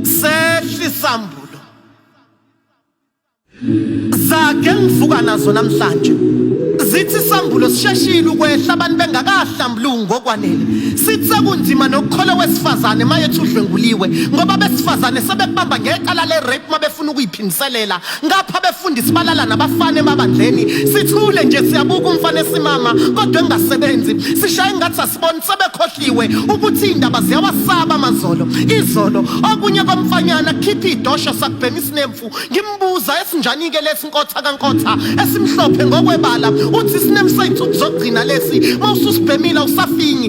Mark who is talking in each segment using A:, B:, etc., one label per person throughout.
A: Sehli sambulo. Zake ngivuka nazo namhlanje. Zithi sambulo sisheshile ukwehla abantu bengakahlambulungu ngokwanele. Sithi sekunzima nokukhola wesifazane mayethi udlwenguliwe ngoba besifazane sebebamba ngecala le rape mabefuna ukuyiphindiselela ngapha befundisi balala nabafana emabandleni sithule nje siyabuka umfana esimama kodwa engasebenzi sishaye ngathi asiboni sebekhohliwe ukuthi indaba ziyawasaba amazolo izolo okunye komfanyana kukhipha idosho sakubhema isinemfu ngimbuza esinjani ke lesi nkotha kankotha esimhlophe ngokwebala uthi isinemfu sethu kuzogcina lesi mawususibhemile usafinyi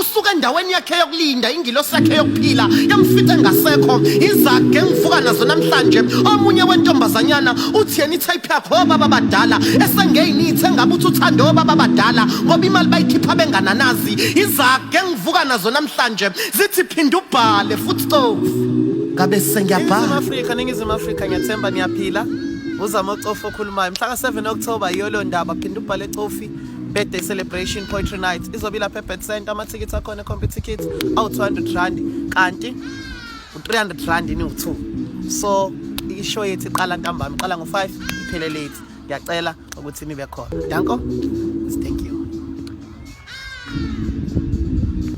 A: usuka endaweni yakhe yokulinda ingilosi yakhe yokuphila yamfica engasekho izage ngivuka nazo namhlanje omunye wentombazanyana uthi yena itype yakho obaba badala esengeyinithe ngabe uthi uthande obaba badala ngoba imali bayikhipha bengananazi izage ngivuka nazo namhlanje zithi phinda ubhale futhi cofu ngabe sengiyabhala Afrika ningizimu Afrika
B: ngiyathemba niyaphila uzama ucofa okhulumayo mhla ka 7 October iyolo ndaba phinda ubhale cofi birthday celebration poetry night izobe ilapha ebet center amathikithi akhona ecompe ticket awu-200 rand kanti u-300 rand ini u-two so ishow yethu iqala ntambama iqala ngo-five iphele late ngiyacela ukuthi nibe khona danko thank you